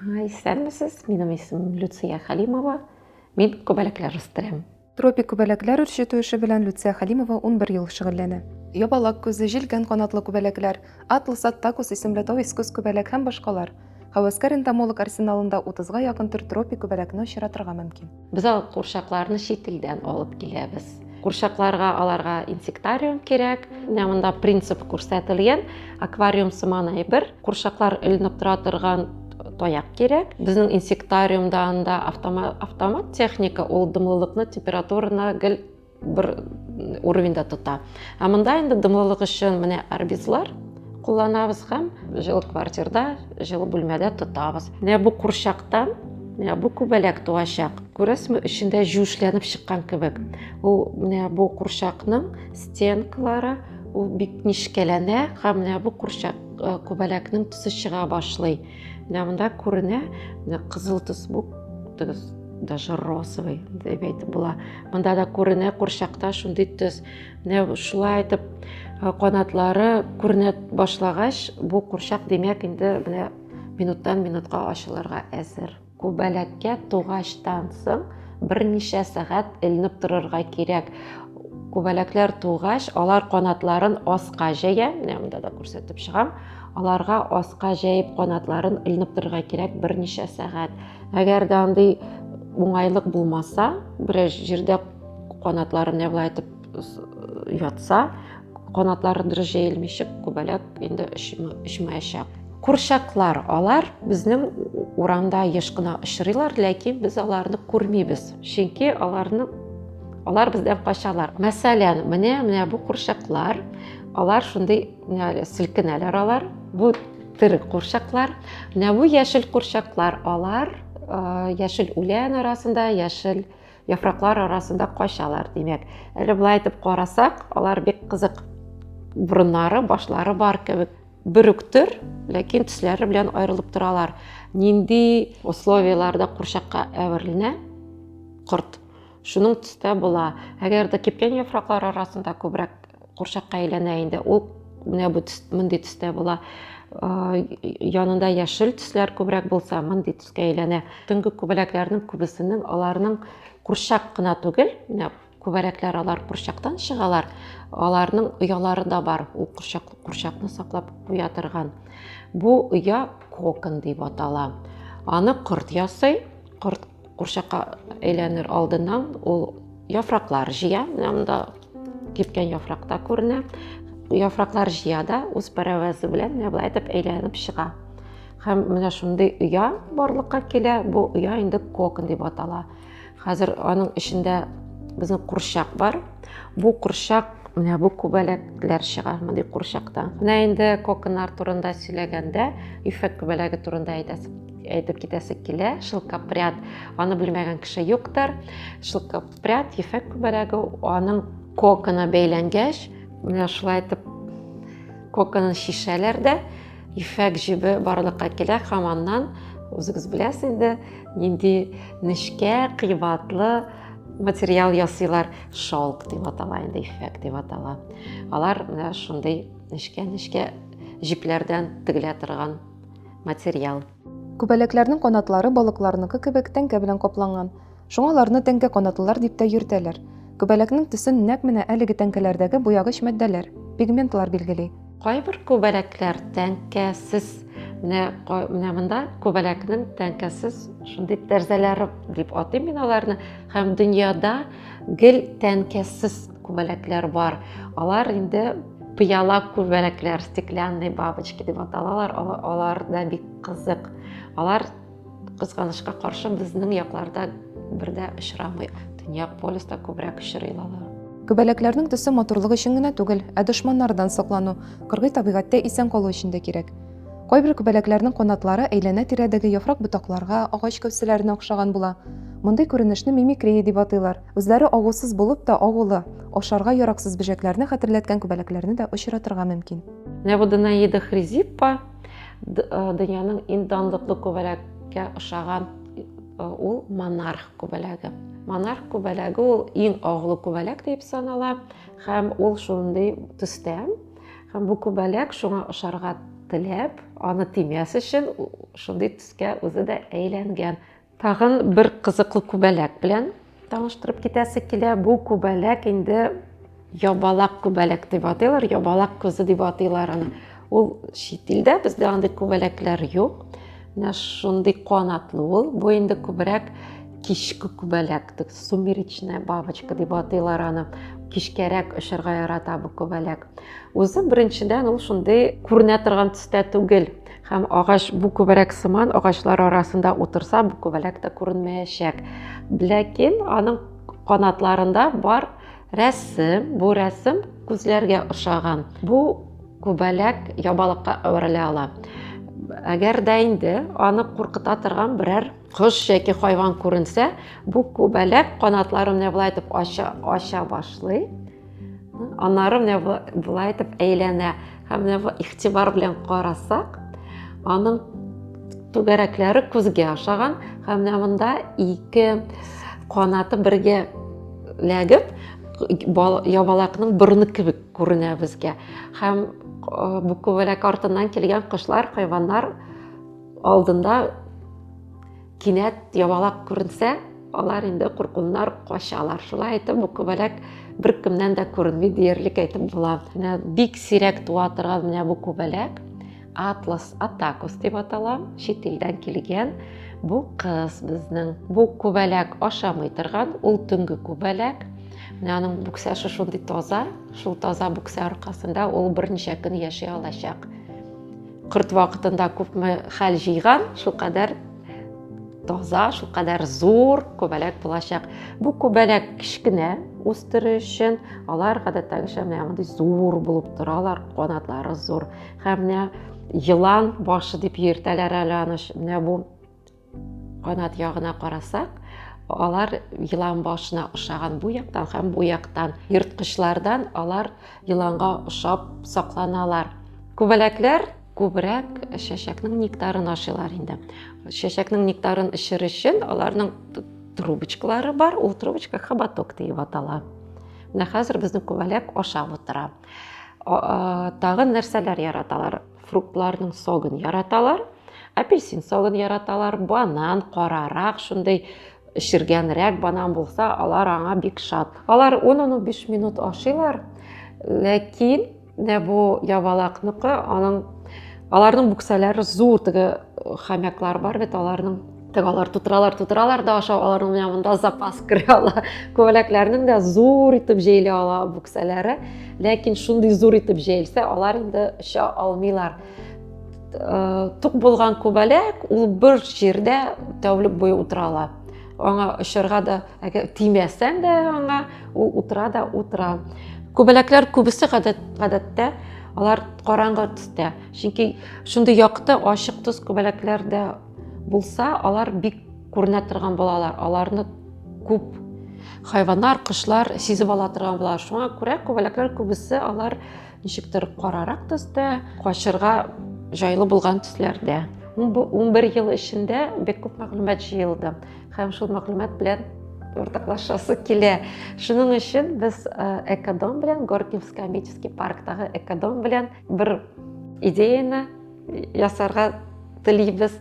Исәнмесез, минем исемем Люция Халимова, мин күбәләкләр үстерәм. Тропик күбәләкләр үрчетү эше белән Люция Халимова 11 ел шөгыльләнә. Ябалак күзе, җилгән канатлы күбәләкләр, атлас аттакус исемле тау искус күбәләк һәм башкалар. Һәвәскәр энтомолог арсеналында 30 га якын төр тропик күбәләкне очратырга мөмкин. Без алып курчакларны чит илдән алып киләбез. Курчакларга аларга инсектариум кирәк. Менә монда принцип күрсәтелгән. Аквариум сыман әйбер. Курчаклар эленеп тора торган таяк кирәк. Безнең инсектариумда анда автомат, автомат техника, ул дымлылыкны, температураны гел бер уровеньда тота ә монда инде дымлылык өчен менә арбизлар кулланабыз һәм җылы квартирда җылы бүлмәдә тотабыз менә бу курчактан менә бу күбәләк туачак күрәсезме эчендә җүшләнеп чыккан кебек ул менә бу курчакның стенкалары ул бик нечкәләнә һәм менә бу курчак күбәләкнең төсе чыга башлый Менә монда күренә, менә кызыл төс бу тыгыз, даже розовый дип әйтеп була. Монда да күренә курчакта шундый төс. Менә шулай итеп э, канатлары күренә башлагач, бу курчак димәк инде менә минуттан минутка ачылырга әзер. Күбәләккә тугачтан соң берничә сәгать элнеп торырга кирәк. Күбәләкләр тугач, алар канатларын аска җәя, менә монда да күрсәтеп чыгам. Аларга аска җәеп канатларын элнеп торырга кирәк берничә сәгать. Әгәр дә андый уңайлык булмаса, берәр җирдә канатларын яулайтып ятса, канатларын дөрес җәелмичек күбәләк инде очмаячак. Курчаклар, алар безнең урамда еш кына очрыйлар, ләкин без аларны күрмибез. Чөнки аларны алар бездән качалар. Мәсәлән, менә менә бу курчаклар, алар шундый селкенәләр алар. Бу тере курчаклар. Менә бу яшел курчаклар, алар яшел үлән арасында, яшел Яфраклар арасында качалар, димәк. Әле болай итеп карасак, алар бик кызык. Борыннары, башлары бар кебек. Бер үк төр, ләкин төсләре белән аерылып торалар. Нинди условияләрдә курчакка әверелә корт? Шуның төстә була. Әгәр дә кипкән яфраклар арасында күбрәк курчакка әйләнә инде, ул менә бу төс, мондый төстә була. Янында яшел төсләр күбрәк булса, мондый төскә әйләнә. Төнге күбәләкләрнең күбесенең аларның курчак кына түгел, менә күбәләкләр алар курчактан чыгалар, аларның оялары да бар, ул курчак, курчакны саклап куя торган. Бу оя кокон дип атала. Аны корт ясый, корт курчакка әйләнер алдыннан ул яфраклар җыя, менә монда кипкән яфракта күренә. Яфраклар җыя да үз пәрәвәзе белән менә былай итеп әйләнеп чыга. Һәм менә шундый оя барлыкка килә. Бу оя инде кокон дип атала. Хәзер аның эчендә безнең курчак бар. Бу курчак менә бу күбәләкләр чыга мондый курчакта менә инде коконнар турында сөйләгәндә ифәк күбәләге турында әйтәсез әйтеп китәсе килә шылкапряд аны белмәгән кеше юктыр шылкапряд ефәк күбәләге аның кокона бәйләнгәч менә шулай итеп коконын шишәләр дә Ефәк җебе барлыкка килә һәм аннан, үзегез беләсез инде, нинди нечкә, кыйбатлы материал ясыйлар. Шалк дип атала инде, ефәк дип атала. Алар менә шундый нечкә-нечкә җепләрдән тегелә торган материал. Күбәләкләрнең канатлары балыкларныкы кебек тәңкә белән капланган. Шуңа аларны тәңкә канатлылар дип тә йөртәләр. Күбәләкнең төсен нәкъ менә әлеге тәңкәләрдәге буягыч мәддәләр, пигментлар билгели. Кайбер күбәләкләр тәңкәсез. Менә менә монда күбәләкнең тәңкәсез шундый тәрзәләре дип атыйм мин аларны. Һәм дөньяда гел тәңкәсез күбәләкләр бар. Алар инде пыяла күбәләкләр, стеклянные бабочки дип аталалар. Алар да бик кызык. Алар Кызганычка каршы, безнең якларда бер дә очрамый. Төньяк полюста күбрәк очрый алар. Күбәләкләрнең төсе матурлык өчен генә түгел, ә дошманнардан соклану, кыргый табигатьтә исән калу өчен дә кирәк. Кайбер күбәләкләрнең канатлары әйләнә тирәдәге яфрак ботакларга, агач кәүсәләренә охшаган була. Мондый күренешне мимикрия дип атыйлар. Үзләре агусыз булып та, агулы, ашарга яраксыз бөҗәкләрне хәтерләткән күбәләкләрне дә очратырга мөмкин. Небудная едохризиппа, Дөньяның иң данлыклы күбәләккә ошаган ул монарх күбәләге. Монарх күбәләге ул иң агулы күбәләк дип санала һәм ул шундый төстә. Һәм бу күбәләк шуңа ошарга теләп, аны тимәс өчен шундый төскә үзе дә әйләнгән. Тагын бер кызыклы күбәләк белән таныштырып китәсе килә. Бу күбәләк инде ябалак күбәләк дип атыйлар, ябалак күзе дип атыйлар аны. Ул чит илдә, бездә андый күбәләкләр юк. Менә шундый канатлы ул. Бу инде күбрәк кичке күбәләк, сумеречная бабочка дип атыйлар аны. Кичкәрәк очырга ярата бу күбәләк. Үзе беренчедән ул шундый күренә торган төстә түгел. Һәм агач бу күбәләк сыман агачлар арасында утырса, бу күбәләк тә күренмәячәк. Ләкин аның канатларында бар рәсем, бу рәсем күзләргә ошаган. Бу күбәләк ябалыкка әверелә ала. Әгәр дә инде аны куркыта торган берәр кош яки хайван күренсә, бу күбәләк канатларын менә булай итеп ача, ача башлый. Аннары менә болай итеп әйләнә һәм менә бу игътибар белән карасак, аның түгәрәкләре күзгә ашаган һәм менә монда ике канаты бергә ләгеп ябалакның борыны кебек күренә безгә һәм бу күбәләк артыннан килгән кошлар хайваннар алдында Кинәт ябалак күренсә, алар инде куркуннар качалар. Шулай итеп, бу күбәләк беркемнән дә күренми диярлек әйтеп була. Менә бик сирәк туа торган менә бу күбәләк Атлас атакус дип атала, чит илдән килгән. Бу кыз безнең. Бу күбәләк ашамый торган, ул төнге күбәләк. Менә аның бүксәше шундый таза, шул таза бүксә аркасында ул берничә көн яши алачак. Кырт вакытында күпме хәл җыйган, шулкадәр таза, шулкадәр зур күбәләк булачак. Бу күбәләк кечкенә үстерү өчен алар гадәттәгечә менә мондый зур булып торалар, канатлары зур. Һәм менә елан башы дип йөртәләр әле аны. Менә бу Канат ягына карасак, алар елан башына ошаган бу яктан һәм бу яктан ерткычлардан алар еланга ошап сакланалар. Күбәләкләр күбрәк чәчәкнең нектарын ашыйлар инде. Чәчәкнең нектарын эчер өчен аларның трубочкалары бар, ул трубочка хоботок диеп атала. Менә хәзер безнең күбәләк ашап утыра. Тагын нәрсәләр яраталар? фруктларның согын яраталар апельсин согын яраталар банан карарак шундый эшергәнрәк банан булса алар аңа бик шат алар 10-15 минут ашыйлар ләкин менә бу ябалакныкы аның аларның бүксәләре зур теге хомяклар бар бит аларның Тек алар тутыралар, тутыралар да ашау, аларның менә монда запас керә ала. Күбәләкләрнең дә зур итеп җәйли ала бүксәләре. Ләкин шундый зур итеп җәелсә, алар инде оча алмыйлар. Э, тук булган күбәләк ул бер җирдә тәүлек буе утыра ала. Аңа очырга да, әгәр тимәсәң дә аңа, ул утыра да утыра. Күбәләкләр күбесе гадәттә алар караңгы төстә. Чөнки шундый якты, ачык төс күбәләкләрдә Булса, алар бик күренә торган балалар, аларны күп хайваннар, кошлар сизеп ала торган була. Шуңа күрә күбәләкләр күбесе алар ничектер карарак төстә, качырга жайлы булган төсләрдә. 11 ел эчендә бик күп мәгълүмат җыелды һәм шул мәгълүмат белән уртаклашасы килә. Шуның өчен без Экодом белән Горкинский комический парктагы Экодом белән бер идеяны ясарга телибез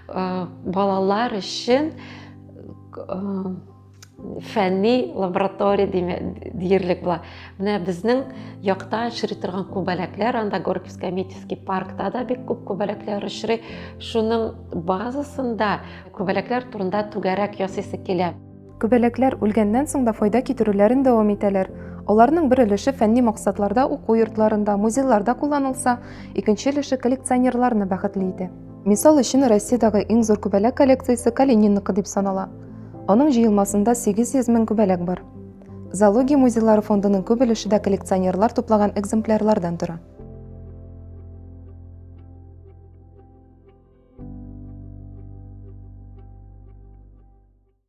балалар өчен фәнни лаборатория диярлек була менә безнең якта очрый торган күбәләкләр анда горьковский метьевский паркта да бик күп күбәләкләр очрый шуның базасында күбәләкләр турында түгәрәк ясыйсы килә Күбәләкләр үлгәннән соң да файда китерүләрен дәвам итәләр. Аларның бер өлеше фәнни максатларда уку йортларында, музейларда кулланылса, икенче өлеше коллекционерларны бәхетле итә. Мисал өчен, Россиядәге иң зур күбәләк коллекциясе Калининныкы дип санала. Аның җыелмасында 800 мең күбәләк бар. Зоология музейлары фондының күп өлеше дә коллекционерлар туплаган экземплярлардан тора.